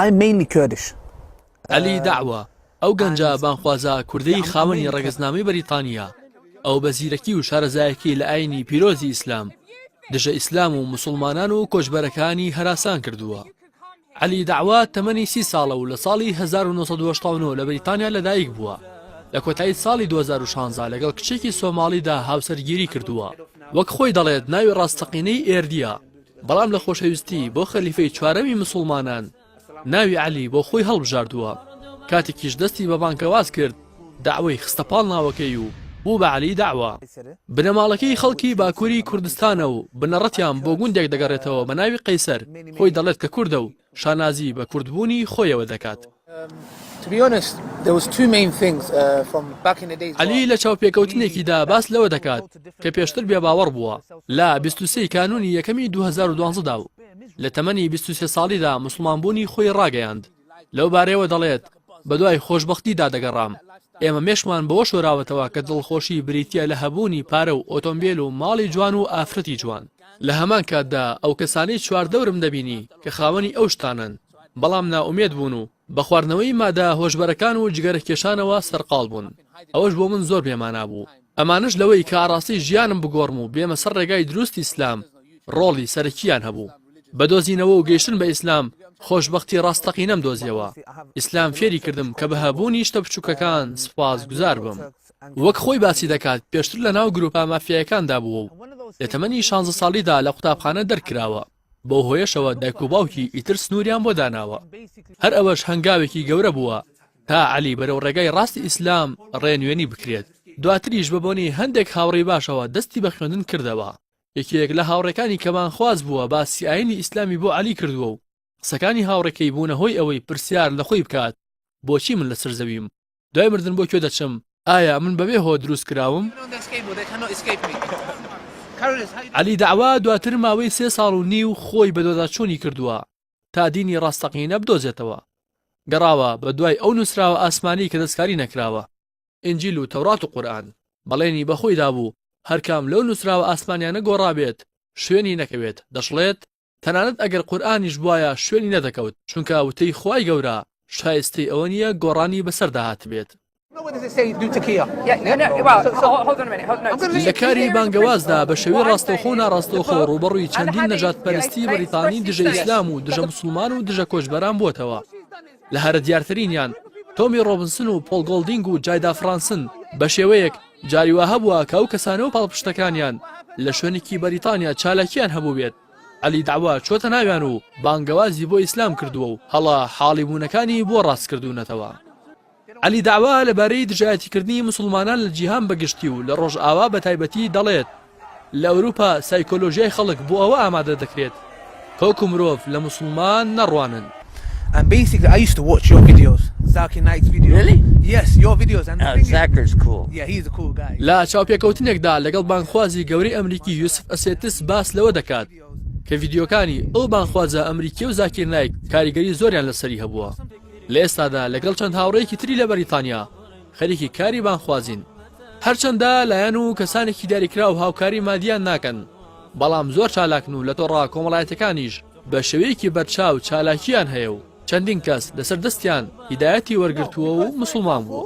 I'm mainly Kurdish. عەلی دەعوە، ئەو گەنجە بانخوازە کوردەی خاوەنی ڕەگەزنامەی بەریتانییە، ئەو بە زیرەکی و شارەزایەکی لە ئایینی پیرۆزی ئیسلام، دژە ئیسلام و موسڵمانان و کۆچبەرەکانی هەراسان کردووە. عەلی دەعوە تەمەنی سی ساڵە و لە ساڵی 1970 لە بەریتانیا لەدایک بووە. لە کۆتایی ساڵی 2016 لەگەڵ کچێکی سۆماڵیدا هاوسەرگیری کردووە. وەک خۆی دەڵێت ناوی ڕاستەقینەی ئێردییە. بەڵام لە خۆشەویستی بۆ خەلیفەی چوارەمی مسوڵمانان ناوی عەلی بۆ خۆی هەڵبژاردووە کاتێکیش دەستی بە بانکەواز کرد داوای خستە پاڵ ناوەکەی و بوو بە عەلی داوا بنەماڵەکەی خەڵکی باکووری کوردستانە و بنەڕەتیان بۆ گوندێک دەگەڕێتەوە بە ناوی قەیسەر خۆی دەڵێت کە کوردە و شانازی بە کوردبوونی خۆیەوە دەکات. عەلی لە چاوپێکەوتنێکیدا باس لەوە دەکات کە پێشتر بێباوەڕ بووە، لە بیست و سێی کانوونی یەکەمی دوو هەزار و دوازدە دا و لە تەمەنی بیست و سێ ساڵیدا موسڵمانبوونی خۆی ڕاگەیاند، لەو بارەیەوە دەڵێت، بەدوای خۆشبەختیدا دەگەڕام. ئێمە مێشکمان بەوە شۆراوەتەوە کە دڵخۆشی بریتییە لە هەبوونی پارە و ئۆتۆمبێل و ماڵی جوان و ئافرەتی جوان. لە هەمان کاتدا ئەو کەسانەی چواردەورم دەبینی کە خاوەنی ئەو شتانەن، بەڵام نائومێد بوون و بە خواردنەوەی مادە هۆشبەرەکان و جگەرەکێشانەوە سەرقاڵ بوون، ئەوەش بۆ من زۆر بێمانا بوو. ئەمانەش لەوەی کە ئاڕاستەی ژیانم بگۆڕم و بێمە سەر ڕێگای دروستی ئیسلام، ڕۆڵی سەرەکییان هەبوو. بە دۆزینەوە و گەیشتن بە ئیسلام خۆشبەختی ڕاستەقینەم دۆزیەوە. ئیسلام فێری کردم کە بە هەبوونی شتە بچووکەکان سوپاسگوزار بم. وەک خۆی باسی دەکات پێشتر لە ناو گرووپە مافیایەکاندا بووە و لە تەمەنی شانزە ساڵیدا لە قوتابخانە دەرکراوە، بەو هۆیەشەوە دایک و باوکی ئیتر سنووریان بۆ داناوە. هەر ئەوەش هەنگاوێکی گەورە بووە تا عەلی بەرەو ڕێگای ڕاستی ئیسلام ڕێنوێنی بکرێت. دواتریش بە بۆنەی هەندێک هاوڕێی باشەوە دەستی بە خوێندن کردەوە. یەکێک لە هاوڕێکانی کەمانخواز بووە باسی ئاینی ئیسلامی بۆ عەلی کردووە و قسەکانی هاوڕێکەی بوونە هۆی ئەوەی پرسیار لە خۆی بکات بۆچی من لەسەر زەویم؟ دوای مردن بۆ کوێ دەچم؟ ئایا من بەبێ هۆ دروست کراوم؟ عەلی دەعوا دواتر ماوەی سێ ساڵ و نیو خۆی بەدواداچوونی کردووە تا دینی ڕاستەقینە بدۆزێتەوە. گەڕاوە بەدوای ئەو نووسراوە ئاسمانی کە دەستکاری نەکراوە. ئینجیل و تەورات و قورئان. بەڵێنی بە خۆی دابوو هەر کام لەو نووسراوە ئاسمانیانە گۆڕابێت شوێنی نەکەوێت، دەشڵێت، تەنانەت ئەگەر قورئانیش بوایە شوێنی نەدەکەوت، چونکە وتەی خوای گەورە شایستەی ئەوە نییە گۆڕانی بەسەردا هاتبێت. لە کاری بانگەوازدا بە شێوەی ڕاستەوخۆ و ناڕاستەوخۆ ڕووبەڕووی چەندین نەژادپەرستی بەریتانی دژە ئیسلام و دژە موسڵمان و دژە کۆچبەران بووەتەوە. لە هەرە دیارترینیان تۆمی ڕۆبنسن و پۆڵ گۆڵدینگ و جایدا فرانسن، بە شێوەیەک جاری وا هەبووە کە ئەو کەسانە و پاڵپشتەکانیان لە شوێنێکی بەریتانیا چالاکییان هەبووبێت، عەلی دەعوا چۆتە ناویان و بانگەوازی بۆ ئیسلام کردووە و هەڵە حاڵیبوونەکانی بۆ ڕاستکردوونەتەوە. عەلی دەعوا لەبارەی دژایەتیکردنی موسڵمانان لە جیهان بەگشتی و لە ڕۆژئاوا بەتایبەتی دەڵێت، لە ئەوروپا سایکۆلۆژیای خەڵک بۆ ئەوە ئامادە دەکرێت کە وەکو مرۆڤ لە موسڵمان نەڕوانن. ئەم بەیسیکلی ئای یوست تو واتچ یۆر ڤیدیۆس زاکی نایتس ڤیدیۆ ریلی یەس یۆر ڤیدیۆس ئەند ذا ثینگ ئیز زاکیس کوول یە هیز کوول گای. لە چاوپێکەوتنێکدا لەگەڵ بانگخوازی گەورەی ئەمریکی یوسف ئەسێتس باس لەوە دەکات کە ڤیدیۆکانی ئەو بانگخوازە ئەمریکیە و زاکیر نایک کاریگەری زۆریان لەسەری هەبووە لە ئێستادا لەگەڵ چەند هاوڕێیەکی تری لە بەریتانیا خەریکی کاری بانگخوازین، هەرچەندە لایەن و کەسانێکی دیاریکراو هاوکاری مادییان ناکەن، بەڵام زۆر چالاکن و لە تۆڕە کۆمەڵایەتیەکانیش بە شێوەیەکی بەرچاو چالاکییان هەیە و چەندین کەس لەسەر دەستیان هیدایەتی وەرگرتووە و موسڵمان بووە.